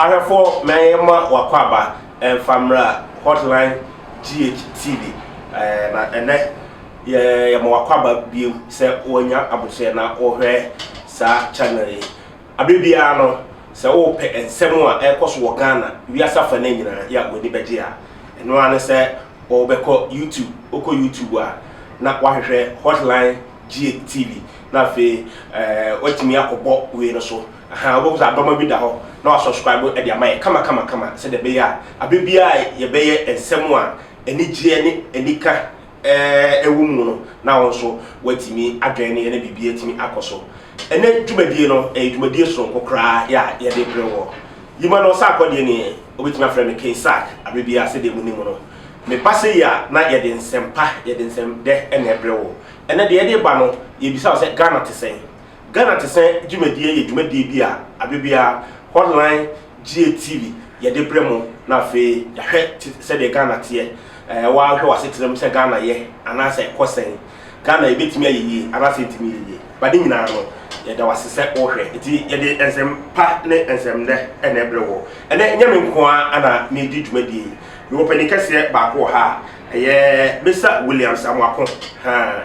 Ahwɛfoɔ ma yɛmma w'akwaaba mfa mmra Hotline GHTV na ɛnnɛ yɛma w'akwaaba bio sɛ woanya aboterɛ na wohwɛ saa channel yi. Aberɛ biara no sɛ wopɛ nsɛm a ɛrekɔso wɔ Ghana wiase afa no nyinaa yɛ a w'ani bɛgye a, ɛno ara ne sɛ wobɛkɔ YouTube, wokɔ YouTube a na wahwehwɛ Hotline GHTV na afei watumi akɔbɔ wei no so. Ahaa, wobɛhu sɛ adɔma bi da hɔ na wɔasɔskraibo de ama yɛn kamakamakama sɛdeɛ ɛbɛyɛ a aberɛ biara a yɛbɛyɛ nsɛm a anigyeɛ ne anika wɔ mu no na wo nso woatumi adwɛn no yɛ na biribiara atumi akɔ so. Ɛnnɛ dwumadie no, ɛyɛ dwumadie sononko koraa a yɛde brɛ wo. Yima no Ɔsakɔ deɛ nie, wobɛtumi afrɛ no King Sack aberɛ biara sɛdeɛ monim no. Meba sei a na yɛde nsɛmpa, yɛde nsɛmdɛ na ɛbrɛ wo. Ɛnnɛ deɛ yɛde reba no, yɛrebisa wo sɛ Ghana te sɛn? Ghana Tesɛ dwumadie yɛ dwumadie bi a abe biara Hotline Gye TV yɛde brɛ mo na afei yɛahwɛ te sɛdeɛ Ghana teɛ. Ɛɛ woahwɛ w'asetenam sɛ Ghana yɛ anaasɛ ɛkɔ sɛn? Ghana ɛbɛtumi ayɛ yie anaasɛ ɛntumi nyɛ yie? But ne nyinaa no yɛda wo ase sɛ wohwɛ nti yɛde nsɛm pa ne nsɛm nnɛ na ɛbrɛ woɔ. Ɛnɛ ɛnyɛ me nko ara na meredi dwumadie yi. Mewɔ panin kɛseɛ baako wɔ ha a ɛyɛ Mister Williams Amoako. Haa.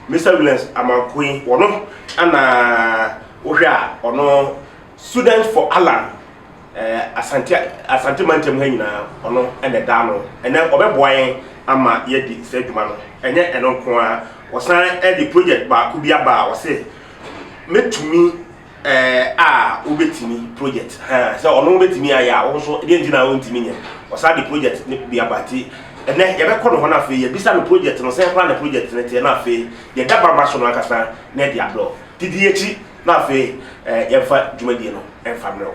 Mister Williams Amankwei wɔno ana wohwɛ a ɔno student for Allan eh, Asante, Asante mantam ha nyinaa ɔno ɛna ɛda ano ɛnɛ ɔbɛboa yɛn ama yɛadi saa adwuma no ɛnyɛ ɛno nko a wɔsan ɛde project baako bi aba a wɔse mɛtumi Ɛɛ a wobɛtumi project ha sɛ ɔno bɛtumi ayɛ a wo nso deɛ nti na wontumi nyɛ ɔsaa de project ne bi aba ti ɛnɛ yɛbɛkɔ no hɔ no afei yɛbisa no project no sɛn koraa na project no teɛ na afei yɛda baba so no ankasa na ɛde abrɛ wo didi akyi na afei yɛmfa dwumadie no ɛmfa mmerɛ wo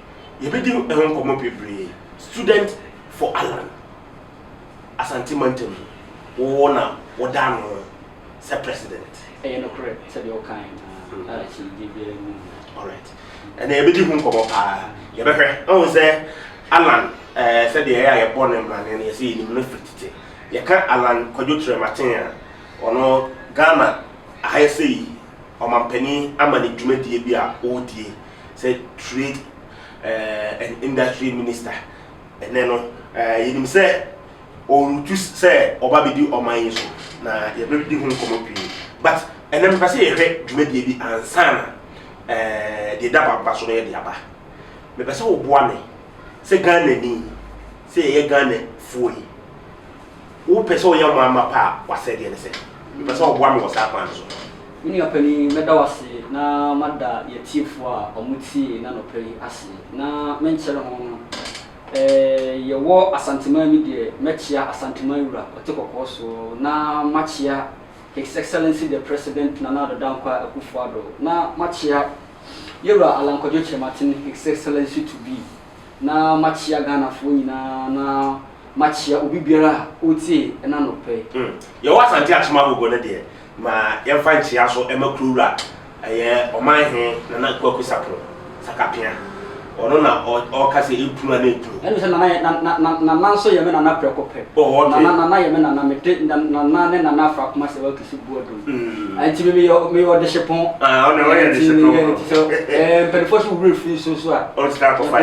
Yɛbɛdi ho nkɔmmɔ bebree. Student for Allan, Asante mantam mu, wo na wodaa no sɛ president. Ɛyɛ nokorɛ sɛ deɛ wokaeɛ no a akyinnyegyeɛ biara nni ho. Alright. Ɛnna yɛbɛdi ho nkɔmmɔ paa. Yɛbɛhwɛ. Wohu sɛ Allan eh, sɛdeɛ ɛyɛ a yɛbɔ no mmrane no, yɛsɛ yɛnim no firi tete. Yɛka Allan Kwadwo Kyerɛmaten a, ɔno Ghana ha yɛsɛ yi ɔmampanin ama ne dwumadie bi a ɔredie. sɛ Trade and Industry Minister ɛnnɛ no, yɛnim sɛ ɔretu sɛ ɔba bɛdi ɔman yi so na yɛbɛdi ho nkɔmmɔ pii. But ɛnnɛ mepɛ sɛ yɛhwɛ dwumadie bi ansa na deɛ ɛda m'aba so no yɛde aba. Mepɛ sɛ woboa me sɛ Ghanani, sɛ yɛyɛ Ghanafoɔ yi, Wopɛ sɛ woyɛ ɔmanmma pa a, w'asɛdeɛ ne sɛ. Mepɛ sɛ woboa me wɔ saa kwan no so. Me nua panin, mɛda wo ase na mada y'atiefoɔ a wɔn tiee n'anɔpa yi ase. Na menkyɛre ho no, eh, yɛwɔ Asanteman bi deɛ, mɛkyea Asanteman Wura ɔte kɔkɔɔ soɔ, na makyea His Excellency the President Nana Addo Dankwa Akufo-Addo, na makyea Yɛwura Alankwadwo Kyerematen His Excellency to be. na makyea Ghanafoɔ nyinaa na makyea obi biara a ɔretie ɛna nɔpɛ yi. Hmm. Yɛwɔ Asante Akyem Ahogo no deɛ, ma yɛmfa nkyea so ma Kurowura, ɛyɛ Ɔman He Nana Kwaku Sapon Sakapea. Ɔno na ɔka sɛ ɛkunu a na ɛkunu. Ɛne sɛ Nana yɛ, na, na, na, Nana nso yɛ me Nana prɛko pɛ. Oh, okay. Nana, Nana yɛ me Nana, mede Nana ne Nana Afra Kumase Watu Sibuodo. nti mi meyɛ meyɛ ɔdehyepɔn nti meyɛ nti sɛ ɛɛ mpanimfoɔ so wura firi so so a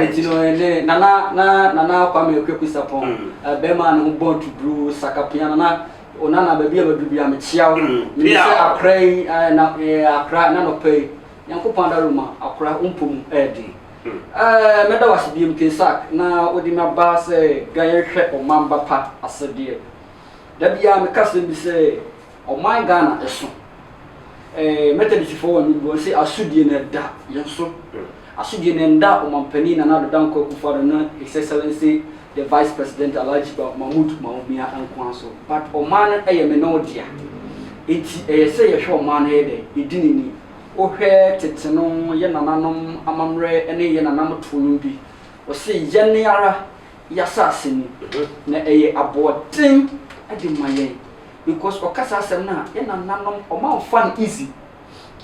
nti no ɛne nana na nana kwame kwaku sapɔn bɛrima ne ho bɔn tuburu sakapia nana onana baabi a bɛduru bi a mekyia wo mene sɛ akora yi na akora na nɔpɛ yi nyankopɔn adaroma akora wompɔ mu ɛyɛ den mɛda wase biam kesak na wode me aba sɛ dwa yɛnhwɛ ɔmamba pa asɛdeɛ da biara meka sɛm bi sɛ Ɔman Ghana ɛso ɛɛ Methodistfoɔ wɔn ani bɔ se asodie no ɛda yɛn so. Asodie no ɛnda Ɔmanpanin Nana Addo Dankwa Akufo-Addo ne His Excellency the Vice President Alhaji Mahmood Bawumia nkoa so but ɔman no ɛyɛ me ne wo dea enti ɛyɛ sɛ yɛhwɛ ɔman no yɛ dɛ yɛdi ne ni. Wohwɛ tete no yɛn nananom amammerɛ ne yɛn nanamtoɔ nom bi wɔse yɛn ara y'asase no na ɛyɛ aboɔden de ma yɛn because ɔka saa asɛm no a yɛ nananom ɔmo anfa no easy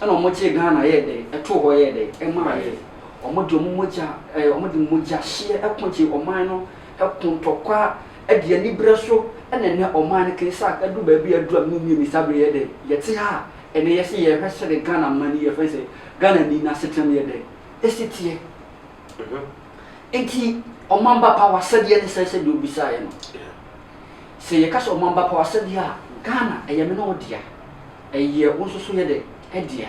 ɛna ɔmo gyee Ghana yɛɛ dɛn ɛtoo hɔ yɛɛ dɛn ɛmaa yɛn ɔmo de ɔmo mogya ɛɛ ɔmo de mogya hyeɛ ɛko gyee ɔman no ɛko ntɔkwa ɛde anibere so ɛna ɛnɛ ɔman no kɛn saa ɛduru baabi a ɛduru a me nua Mister Abere yɛɛ dɛn yɛte ha a ɛnɛ yɛse yɛhwɛ sɛdeɛ Ghana man yi yɛfrɛ sɛ Ghana ni n'asetena mu yɛɛ dɛn ɛsi teɛ. Enti Ɔmamba Pa w'asɛdeɛ ne sɛɛ sɛdeɛ wobisaeɛ no. Sɛ yɛka sɛ Ɔmamba Pa w'asɛdeɛ a, Ghana ɛyɛ me ne wo dea, ɛyɛ wo nso so yɛ dɛ ɛdea.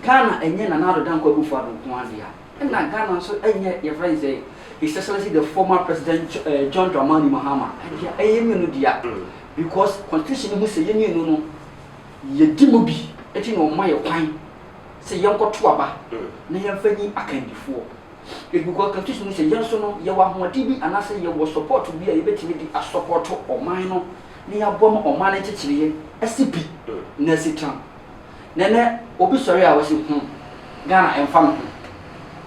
Ghana ɛnyɛ Nana Addo Dankwa Akufo Addo nko ara dea, ɛna Ghana nso ɛnyɛ yɛfrɛ no sɛ His Excellency the former President John Dramani Mahama dea, ɛyɛ yɛn mmienu dea because Constitution no ho sɛ yɛn mmienu no yɛdi mu bi, enti na wɔma yɛn kwan sɛ yɛnkɔto aba na yɛmfa nyi akandifoɔ. Ɛgu kɔ kɛse so no sɛ yɛn nso no yɛwɔ ahoɔden bi anaasɛ yɛwɔ sɔpɔɔto bi a yɛbɛtumi de asɔpɔɔto ɔman no na yɛaboa ma ɔman no nkyekyereɛ asi pi na asi tena. Na ɛnnɛ obi sɔre a ɔse ho Ghana ɛmfa ne ho,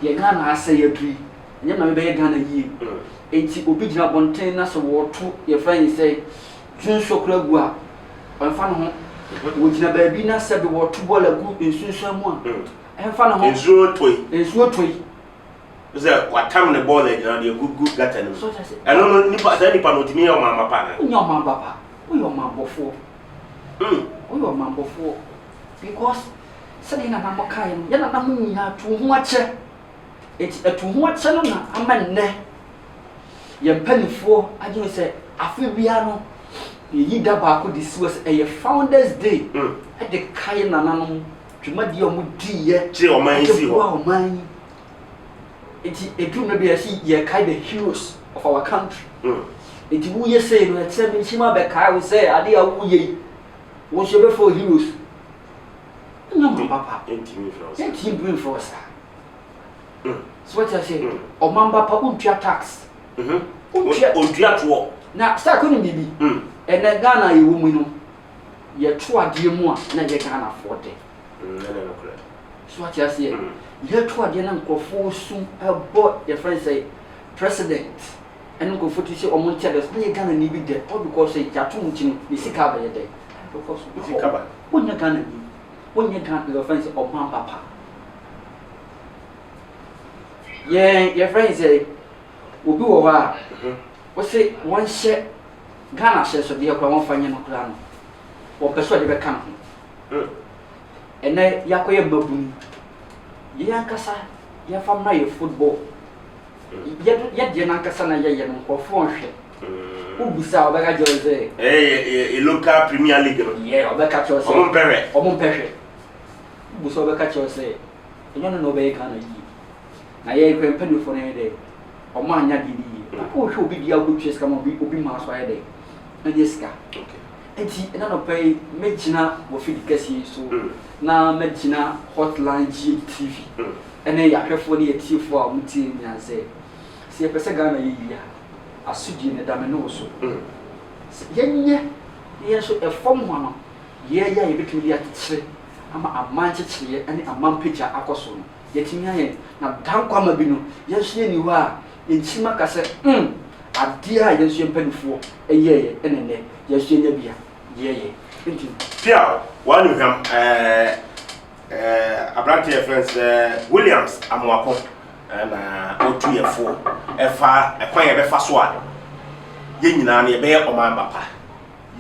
deɛ Ghana asɛe aduru yi ɛnyɛ na mebɛyɛ Ghana yie. Ɛnti obi gyina abɔnten na sɛ wɔto yɛfrɛ ne sɛ Twe nsuo koraa gu a, ɛmfa ne ho. Wɔgyina baabi na sɛbe wɔto bɔɔl agu nsunsuan mu a, ɛmfa ne ho. Nsuo tɔ yi. Nsuo tɔ yi. Sɛ watam ne bɔɔl agyina ɔde agu gu gata no mu. Ɛno no nipa saa nipa no ɔtumi yɛ ɔmanba pa anaa? Ɔnyɛ ɔmanba pa. Woyɛ ɔmanbɔfoɔ. Mm. Woyɛ ɔmanbɔfoɔ because sɛdeɛ nana mo kaeɛ no yɛ nana mo nyinaa to ho akyɛ Enti ɛto ho akyɛ no na ama nnɛ yɛn mpanimfoɔ adwene sɛ afe biara no yɛyi da baako de si hɔ sɛ ɛyɛ Founders Day mm. de kae nananom dwumadie a wɔdiiɛ kyerɛ ɔman yi si hɔ ɔman yi nti ɛduru mmerɛ bi yɛsi yɛkae the heroes of our country mm. nti woyɛ sei no ɛkyerɛ menhyima bɛkae wo sɛ adeɛ a woyɛ yi wo nso yɛbɛfɔ heroes Nna ɔman papa nntumi mfrɛ wo saa. Nntumi mfrɛ wo saa. So wate aseɛ? Ɔman papa wontua tax. Wontua. Wontua toɔ. Na Stark wonim biribi? Ɛnɛ Ghana a yɛwɔ mu yi no, yɛto adeɛ mu a na ɛyɛ Ghanafoɔ dɛ. Ɛno yɛ nokorɛ. So wate aseɛ? Yɛto adeɛ na nkorɔfoɔ su bɔ yɛfrɛ no sɛ president ɛne nkorɔfoɔ tiri sɛ wɔn nkyɛdɛ so na ɛyɛ Ghanani bi dɛ all because sɛ yɛato mu nti no ne sika abɛyɛ dɛ. Because. Ne sika ba. Wonyɛ Ghanani. Wonyɛ Ghan deɛ wɔfrɛ no sɛ ɔman papa. Yɛn yɛfrɛ no sɛ obi wɔ hɔ a wose wɔnhyɛ Ghana ahyɛnsodeɛ koraa wɔmfa nyɛ no koraa no wɔmpɛ sɛ ɔde bɛka ne ho. Ɛnɛ yɛakɔyɛ mmabunu. Yɛn ankasa yɛmfa mmra yɛn football. Yɛ yɛdeɛ no ankasa na yɛyɛ no nkurɔfoɔ nhwɛ. Wo bisa a ɔbɛka kyerɛ wo sɛ. Ɛyɛ yɛ local premier league no. Yɛ ɔbɛka kyerɛ wo sɛ. Ɔmo mpɛ hwɛ. Ɔmo mpɛ hwɛ. Wo bisa a ɔbɛka kyerɛ wo sɛ ɛnyɛ ɔno na ɔbɛyɛ Ghana yie. Na yɛn kura mpanyinfoɔ no ɛyɛ dɛ ɔmo anyɛ adeɛ no yie. Na wo hwɛ obi deɛ a wo bɛ tua sika ma obi obi maa so ayɛ dɛ anya sika. Nti ɛna nɔpa yi mɛ gyina wɔ fidi kɛseɛ yi so na mɛ gyina Hotline GH TV ɛne yɛ ahwɛfoɔ ne yɛ tiefoɔ a ɔmo tie nyinaa sɛ. Sɛ yɛpɛ sɛ Ghana yɛ yie a, asodie no da me ne wo so. Sɛ yɛnyɛ na yɛn nso ɛfam hɔ no yɛɛyɛ a yɛbɛtumi de akyekyere ama aman nkyekyereɛ ne aman pagya akɔ so no, yɛatumi ayɛ. Na Dankwama bi no, yɛn nso yɛnni hɔ a yɛnkyim aka sɛ mm, adeɛ a yɛn nso yɛn mpaninfoɔ yɛɛyɛ ɛna ɛnnɛ yɛn nso yɛanya bi a yɛɛyɛ. Nti. Piaw, w'anuhwam, ɛɛ, Aberanteɛ yɛfrɛ no sɛ Williams Amoako na ɔtu yɛ foɔ ɛfa ɛkwan yɛ bɛfa so a yɛn nyinaa no yɛbɛyɛ ɔman ba pa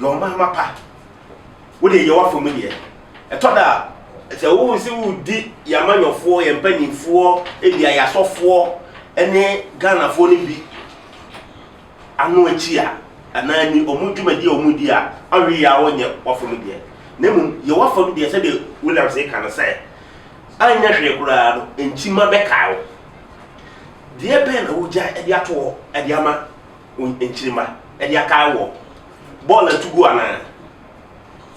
yɛ ɔman ma pa wodeɛ yɛ wafa mu deɛ ɛtɔ da a sɛ wo sɛ wodi yɛ amanyɔfoɔ yɛ mpanimfoɔ ebi ayasɔfoɔ ɛne Ghanafoɔ no bi ano akyi a, anaa ni wɔn dwumadi a wɔredi a ɔhwe yɛ a wɔnyɛ wafam deɛ, na mmom yɛ wafam deɛ sɛdeɛ Williams reka no sɛ, anyɛ hwee koraa no nkyima bɛkae wo. Deɛ bɛn na wogyae de ato hɔ de ama wo nkyirima de akae woɔ? Bɔɔl a ɛtu gu anaa?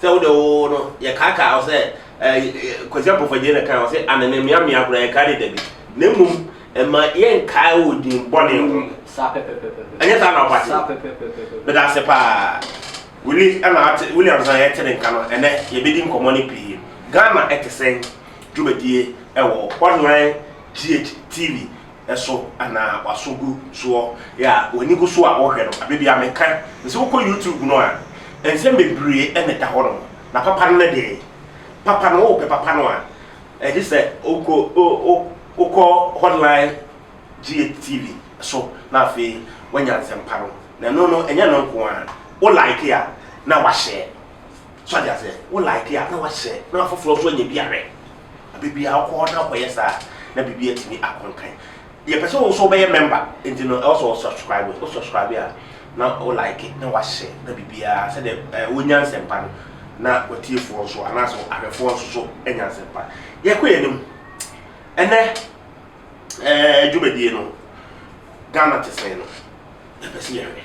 Sɛ wo de oo no yɛ kaakaa ɔsɛ ɛɛ Kwasi Ampofagye na kan ɔsɛ anene mmea mmea koraa yɛ kaa de dabi na mmom ɛma yɛ nkaa wɔ din bɔne ho. Mm, saa pɛpɛpɛpɛpɛ. Ɛnyɛ saa na ɔbate. Saa pɛpɛpɛpɛpɛ. Meda ase paa. Willis ɛna ate Williams na yɛte ne nka no ɛnɛ yɛbɛdi nkɔmmɔ no pii. Ghana ɛte sɛn? Dwumadie ɛwɔ hɔ hean GH TV so anaa waso gu soɔ yɛ a w'ani gu so a wohwɛ no aberɛ biara meka nsɛ wokɔ YouTube no a nsɛm bebree na ɛda hɔ nom na papa no ne deɛ papa no wopɛ papa no a ɛgye sɛ wokɔ wokɔ hotline GHTV so na afei wanya nsɛmpa no na ɛno no ɛnyɛ no nko a wo like a na wahyɛ So ate aseɛ? Wo like a na wahyɛ na afoforɔ nso anya bi ahwɛ. Baabi a wokɔ na wokɔyɛ saa na biribi atumi akɔ nkan. Yɛpɛ sɛ wo nso wobɛyɛ member nti no ɛwɔ sɛ wo subscribe. Wo subscribe a na wo like na wahyɛ na biribiara sɛdeɛ wonya nsɛmpa no na w'atiefoɔ nso anaasɛ ahwɛfoɔ nso so anya nsɛmpa. Yɛkɔ yɛn anim. Ɛnɛ ɛɛ dwumadie no Ghana te sɛn no yɛpɛ sɛ yɛhwɛ.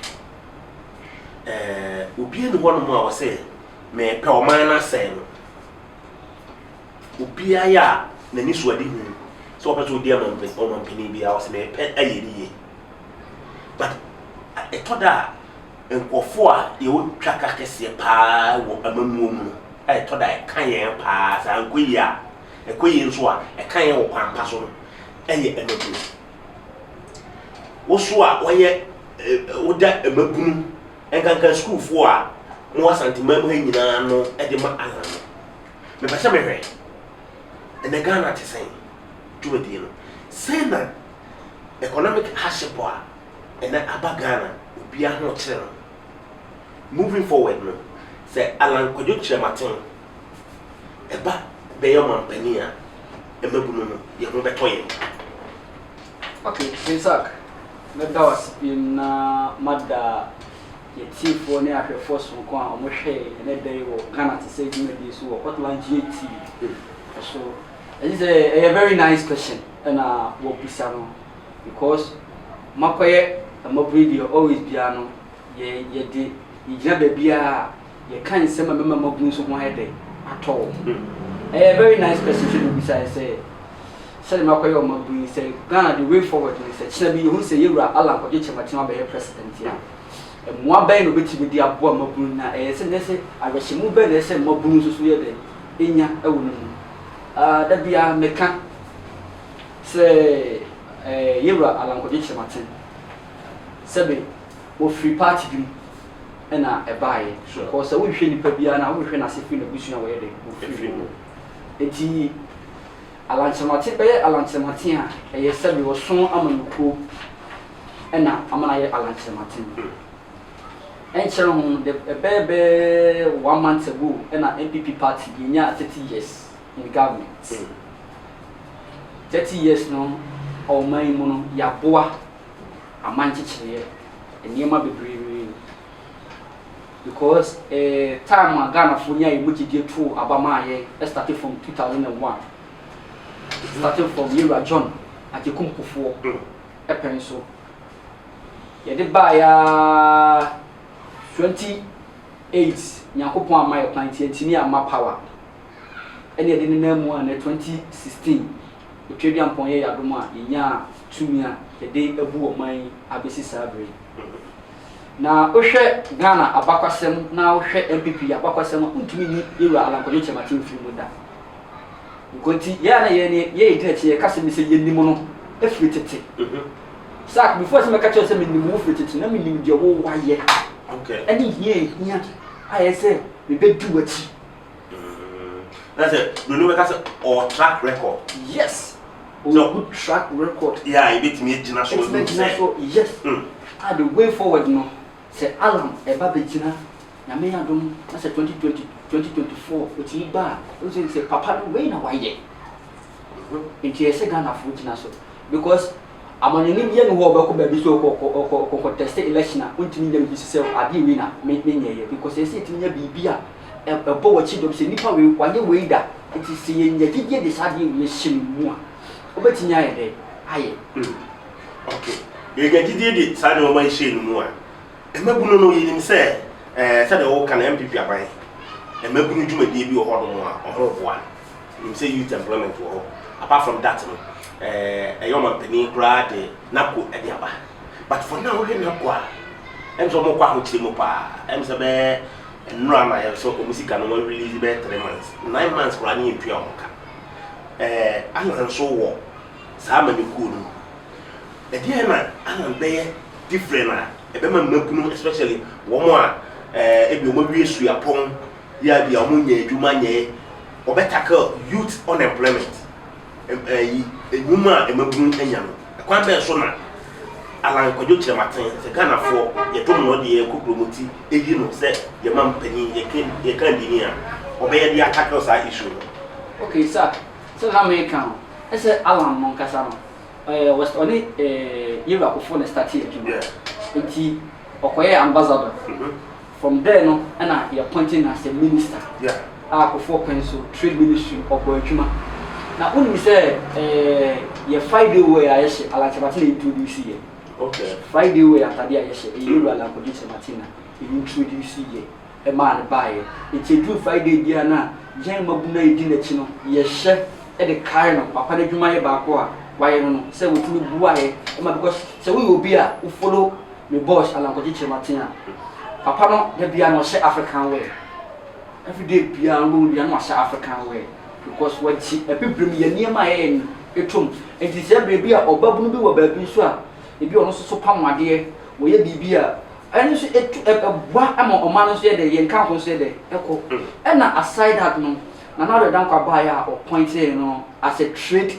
eh, obi nni hɔnom a ɔsɛ mepɛ ɔman no asɛe no. Obiara yɛ a n'ani so ade hu sɛ ɔpɛ sɛ ɔdi ɔmampanin biara ɔsɛ mepɛ ayɛ ne yie. But ɛtɔ da a nkurɔfoɔ a yɛwɔtwa ka kɛseɛ paa wɔ amammuo mu no a ɛtɔ da ɛka yɛn paa sɛ ankɔ yie a ɛkɔ yie nso a ɛka yɛn wɔ kwan pa so no ɛyɛ amammuo. Woso a wɔyɛ woda mmabunu nkanka sukuufoɔ a wɔwɔ Asanteman mu ha nyinaa ano de ma Allan no, mepɛ sɛ mehwɛ ɛnɛ Ghana te sɛn dwumadie no. Sɛn na economic hardship a ɛnɛ aba Ghana obiara ho kyere no. Moving forward no, sɛ Allan Kwadwo Kyerematen ɛba bɛyɛ ɔmanpanin a, mmabunu no, yɛn ho bɛtɔ yɛn. Ok, Isaac, mɛda wo ase biom na mada yɛn atiefoɔ ne ahwɛfoɔ sononko a wɔhwɛɛ yɛn ɛnnɛ da yi wɔ Ghana Te Sɛ dwumadie so wɔ Hotline GATV so. Ɛgye sɛ ɛyɛ very nice question ɛna wɔbisa no because moakɔyɛ mmabunu deɛ always biara no yɛde yɛgyina baabiara a. yɛka nsɛm a ɛbɛma moabu nso ho ayɛ dɛ atɔ wɔn. Ɛyɛ very nice person nso na obisaeɛ sɛ sɛdeɛ makɔyɛ wɔn abunu yi sɛ Ghana the way forward ne sɛ kyena bi yɛhunu sɛ yɛn wura Allan Kwagye Kyerema Kyerema bɛyɛ president a, mmoa bɛn na ɔbɛtumi de aboa mmabunu na ɛyɛ sɛ nɛ sɛ awerɛhyɛmu bɛn na ɛsɛ sɛ mmabunu nso so yɛ dɛ ɛnya wɔ ne mu. Ah, da biara meka sɛ eh, yɛn wura Allan Kwagye Kyerema Kyen sɛbe ɔfiri party bi mu, na ɛbaeɛ. Because sɛ wohwehwɛ nipa biara no a, wohwehwɛ n'ase firi n'abusua a wɔyɛ dɛ wɔfiri mu. Enti Alankyeremate bɛyɛ Alankyeremate a, ɛyɛ sɛbe wɔso amanyɔkuo na ama no ayɛ Alankyeremate no. Ɛnkyɛrɛ ho no, ɛbɛɛ bɛɛ one month ago na NPP party yɛnyaa thirty years in government. Thirty years no ɔman yi mu no, yɛaboa. aman nkyekyereɛ, nneɛma bebree because eh, time a Ghanafoɔ nyaa yɛn mu gyedie too aba maa yɛn started from 2001 starting from yɛwura John Agyekum Kufuor ɛpɛn so yɛde baeɛ ara 28 Nyankopɔn amma yɛ kwan nti yɛntumi amma power ɛne yɛde nenam mu a na 2016 Otwaduampɔn yɛ y'adom a yɛnyaa tumi a yɛde abu ɔman yi abɛsi saa berɛ yi. Na wohwɛ Ghana abakwasɛm na wohwɛ NPP abakwasɛm a, wontumi nyi Yɛwura Alan Kwadwo Kyerematen mfiri mu da. Nkɔ nti, yɛn a na yɛn ne yɛn yɛdi n'akyi na yɛka sɛ me sɛ yɛnim no firi tete. Sack, before sɛ mɛka kyerɛ sɛ menim wo firi tete no, na menim deɛ wowayɛ ne hia a ɛhia a ɛyɛ sɛ mebɛdi w'akyi. Na sɛ broni bɛka sɛ ɔwɔ track record. Yes. Ɔwɔ good track record. Yeah, ebetumi egyina so. Ebetumi egyina so. Yes. Ah, the way forward no, sɛ Alan ɛba begyina, Nyame yɛ adom na sɛ twenty twenty, twenty twenty four otumi ba a, wohu sɛ sɛ papa no wei na wayɛ. Nti ɛsɛ Ghanafoɔ gyina so because. Amanyɔni bia nni hɔ a ɔbɛkɔ baabi sɛ ɔkɔ conteste election a ɔntumi nya biribi sɛ adeɛ wei na menyɛeɛ because ɛsɛ sɛ yɛtumi nya biribi a ɛbɔ w'akyi dɔm sɛ nipa wei wayɛ wei da nti sɛ yɛnya gyidie de saa adeɛ wei ahyɛ ne mu a ɔbɛtumi ayɛ dɛn ayɛ. Okay, yɛnya gyidie de saa nnoɔma yi hyɛ ne mu a, mmabunu no yɛnim sɛ sɛdeɛ woka no NPP aban mmabunu dwumadie bi wɔ hɔnom a wɔboa. Minim sɛ youth employment wɔ hɔ. Apart from that no, eh, ɛyɛ ɔmanpanin koraa de NABCO de aba. But for now, wohwɛ NABCO a, ɛm sɛ wɔkɔ ahokyere mu paa. Ɛm sɛ bɛyɛ nnora na yɛ sɛ wɔn sika no wɔn release bɛyɛ three months, nine months koraa ne yɛntua wɔn ka. Eh, Alan nso wɔ saa amanyɔkuo no mu. Ɛdeɛn na Alan bɛyɛ different a ɛbɛma mmabunu especially wɔn a eh, ebi wɔawie suapɔn Bia bia ɔmo nnya edwuma nyɛe, ɔbɛ tackle youth unemployment, ɛyi enwuma a mmabunu anya no. Ɛkwan bɛn so na Allan Kwadwo Kyerɛmaten, sɛ Ghanafoɔ, yɛdom no de yɛkɔ kurom nti eyi no sɛ yɛn mam panin, yɛke yɛn kandini a, ɔbɛyɛ de a tackle saa issue no? Ok sir, sɛdeɛ na meka no, ɛsɛ Allan no ankasa no, ɔyɛ was ɔne Yewura Kufuor na startee adwuma, nti ɔkɔyɛɛ ambassador. From there no na yɛ appoint no as a minister a Kofoɔ kwan so trade ministry ɔbɔ adwuma na wo nim sɛ yɛ Friday wear a yɛ hyɛ Alan Kyerematen na introduce yɛ Friday wear atade a yɛ hyɛ ɛyɛ Yɛwura Alan Kwabena Kyerematen na introduce yɛ ɛmaa no baa yɛ nti ɛduru Friday biara na yɛn mmabunu a yɛdi nakyi no yɛ hyɛ de kae no papa no adwuma yɛ baako a wayɛ no no sɛ watumi boa yɛ ma because sɛ woyɛ obi a wo follow me boss Alankogye Kyerematen a, papa no da biara na ɔhyɛ African wear. Every day biara no wobɛhu biara na wahyɛ African wear because wagye Abibirem yɛ nneɛma a yɛyɛ no atom. Nti sɛ berɛ bi a ɔbabunu bi wɔ baabi nso a, ebi a ɔno nso so pam adeɛ, wɔyɛ biribi a, ɛno nso ɛtu, ɛ, ɛboa ma ɔman no nso yɛ dɛ, yɛn nkamfo nso yɛ dɛ, ɛkɔ. Ɛna aside that no, Nana Addo Dankwa baeɛ a ɔpɔintee no as a trade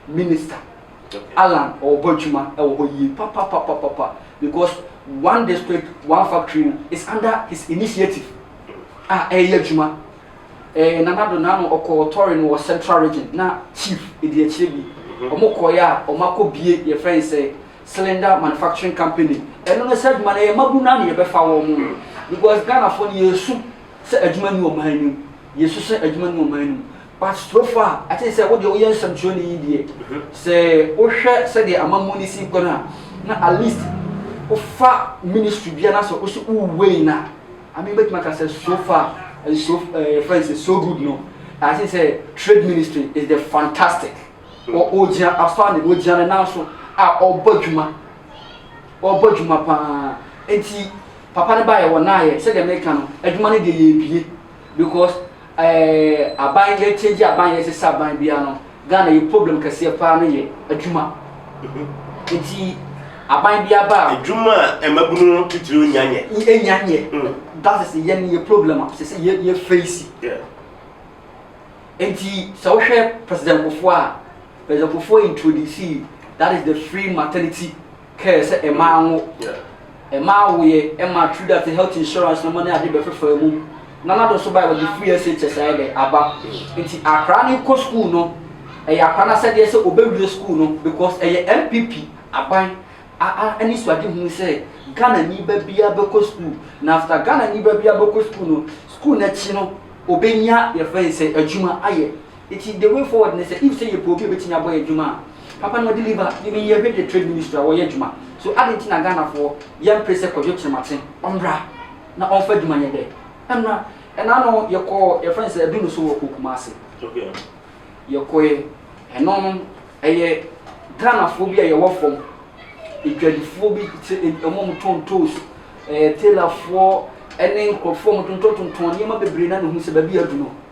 minister. Alan ɔɔbɔ adwuma wɔ hɔ yie papapapapa because one district one factory no is under his initiative a ɛɛyɛ adwuma. Ɛɛ Nana Addo na ano ɔkɔɔ tɔre no wɔ central region na chief ɛdi akyire bi ɔmo kɔɔeɛ a ɔmo akɔ bie yɛfrɛ no sɛ cylinder manufacturing company ɛno no sɛ adwuma no ɛyɛ mabu no a na yɛbɛfa wɔn no because Ghanafoɔ no yɛɛsu sɛ adwuma nni ɔman no mu yɛsu sɛ adwuma nni ɔman no mu. But so far, ɛte sɛ wo deɛ woyɛ nsɛmtwerɛni yi deɛ, sɛ wohwɛ sɛdeɛ amammuo no si rekɔ no a, na at least wofa ministry biara na sɛ wo so wo wei no a, I mean mɛtumi aka sɛ so far, and so, uh, eh, friends is so good no. I think sɛ trade ministry is the fantastic. Ɔgyina afa ne ɔgyina ne nan so a ɔbɔ adwuma, ɔbɔ adwuma paa. Nti papa no baeɛ wɔnaeɛ sɛdeɛ meka no, adwuma no deɛ yɛbie. Because eh aban yɛ change aban yɛ sesa aban bia no Ghana yɛ problem kɛseɛ paa no yɛ adwuma nti aban bia ba a. Adwuma a ɛmabunu no titire onya nyɛ. Enya nyɛ that is yɛn yɛ problem a sese yɛ yɛ face yeah. Nti sɛ wohwɛ president Kufuor a president Kufuor introduce that is the free maternity. Care sɛ mma anwo, mma awoeɛ, ɛma through that health insurance no mo ne ade bɛfefaa mu. Nana do nso baeɛ wɔde free SHS ayɛ dɛ aba. Nti akra no kɔ school no ɛyɛ akra no asɛdeɛ sɛ ɔbɛwie school no because ɛyɛ NPP aban a a anisoadehunu sɛ Ghana ni ba biara bɛkɔ school na after Ghana ni ba biara bɛkɔ school no school no akyi no ɔbɛnya deɛ yɛfrɛ no sɛ adwuma ayɛ. Ntsi the way forward ne sɛ if sɛ yɛpɛ obi a obetumi abɔ yɛn dwuma a, papa no deliver. Emi meyɛ hwɛ dɛ trade ministry a wɔyɛ dwuma. So adɛn ntsi na Ghanafoɔ yɛmmpere sɛ Kwadwo Kyerematen ɔmbra na ɔmfa dwuma nyɛ dɛ? Ɛmmra. Ɛna no yɛkɔɔ yɛfrɛ no sɛ Aduno so wɔ kurow Kumase. Yɛkɔeɛ. Ɛno no ɛyɛ Ghanafoɔ bi a yɛwɔ fam. Adwadifoɔ bi sɛ wɔn a wɔtɔn ntoosi, tailorfoɔ ne nkurɔfoɔ a wɔtontɔn tontɔn nneɛma bebree na na ohu sɛ baabi yɛ Aduno.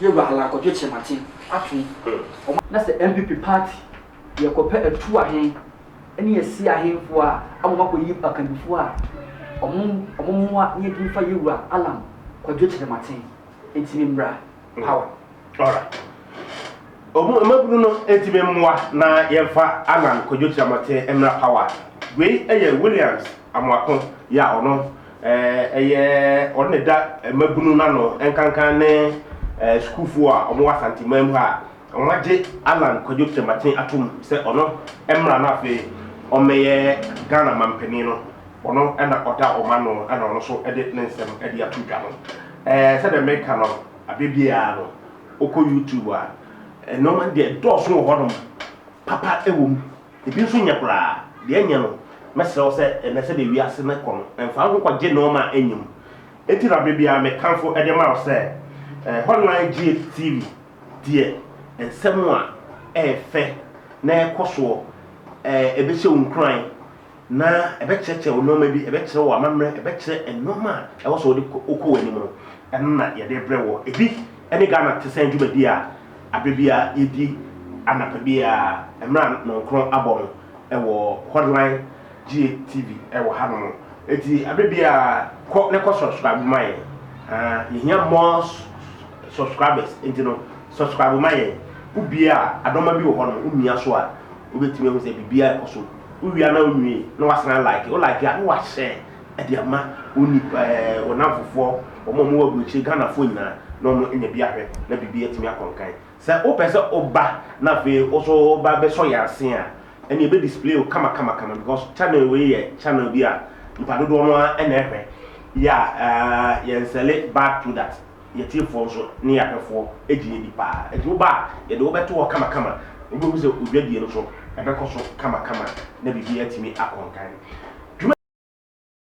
Yewura Alan Kwadwo Kyerematen atom wɔ. Na sɛ NPP party yɛ kɔ pɛ atu ahen ne asie ahenfoɔ a ama ɔmo akɔyi akannifoɔ a ɔmo ɔmo mmoa na yɛdi mfa Yewura Alan Kwadwo Kyerematen nti me mmra power. Alright ɔmo mmabunu no nti me mmoa na yɛmfa Alan Kwadwo Kyerematen mmra power wei yɛ Williams Amoako yɛ a ɔno Ɛyɛ ɔno na ɛda mmabunu no ano nkankan ne sukuufoɔ a wɔwɔ Asanteman mu ha a wɔagye Allan Kwadwo Kyerematen atom sɛ ɔno mmra na afei ɔmmɛyɛ Ghana manpanin no. Ɔno na ɔda wɔn ano na ɔno nso de ne nsɛm de ato dwa no. Sɛdeɛ meka no, aberɛ biara no wokɔ YouTube a, nnoɔma no deɛ ɛdɔɔso wɔ hɔnom, papa wɔ mu, Ebi nso nyɛ koraa. Deɛ ɛnyɛ no, mɛsrɛ wo sɛ ɛnnɛ sɛdeɛ wiase no rekɔ no, mfa wo ho kɔgye nnoɔma a ɛnyɛ mu. Enti na berɛ biara mekamfo de ma wo sɛ, Hotline GHTV deɛ nsɛm a ɛyɛ fɛ na ɛkɔ soɔ, ɛbɛhyɛ wo nkuran na ɛbɛkyerɛkyerɛ wo nnoɔma bi, ɛbɛkyerɛ wo amammerɛ, ɛbɛkyerɛ nnoɔma a ɛwɔ sɛ wode kɔ w'anim no, ɛno na yɛde rebrɛ woɔ. Ebi ne Ghana Te Sɛn dwumadie a. Aber biara yedzi anapa biara mber a Nɔnkrɔn abɔ no wɔ Hotline GATV wɔ hanom no. Ntsi aber biara kɔ na kɔ subscribe ma hɛn. Yehia more subscribers ntsi no subscribe ma hɛn. Wo bue a adɔmba bi wɔ hɔ no wo mia so a wobetumi ehu dɛ biribiara kɔ so. Wo wie a na wo nwie na wɔasan like. Wo like a na wɔahyɛ. de ama wo nnipa ɛɛ wo namfofoɔ, wɔn a wɔwɔ aburokyire, Ghanafoɔ nyinaa na wɔn anya bi ahwɛ na biribi atumi akɔ nkan. Sɛ wopɛ sɛ woba na afei wo nso woba bɛsɔ yɛn ase a, ɛnna yɛbɛ display wo kama kama kama because channel wei yɛ channel bi a nipa dodoɔ no ara na ɛhwɛ. Yɛ a ɛɛ yɛn nsɛle bad product, yɛn tiefoɔ nso ne yɛn ahwɛfoɔ gye yɛn di paa. Nti woba a yɛde wo bɛto hɔ kama kama, wobɛhu sɛ wo dwadie no nso ɛbɛkɔ so kama kama na biribi atumi akɔ nkan.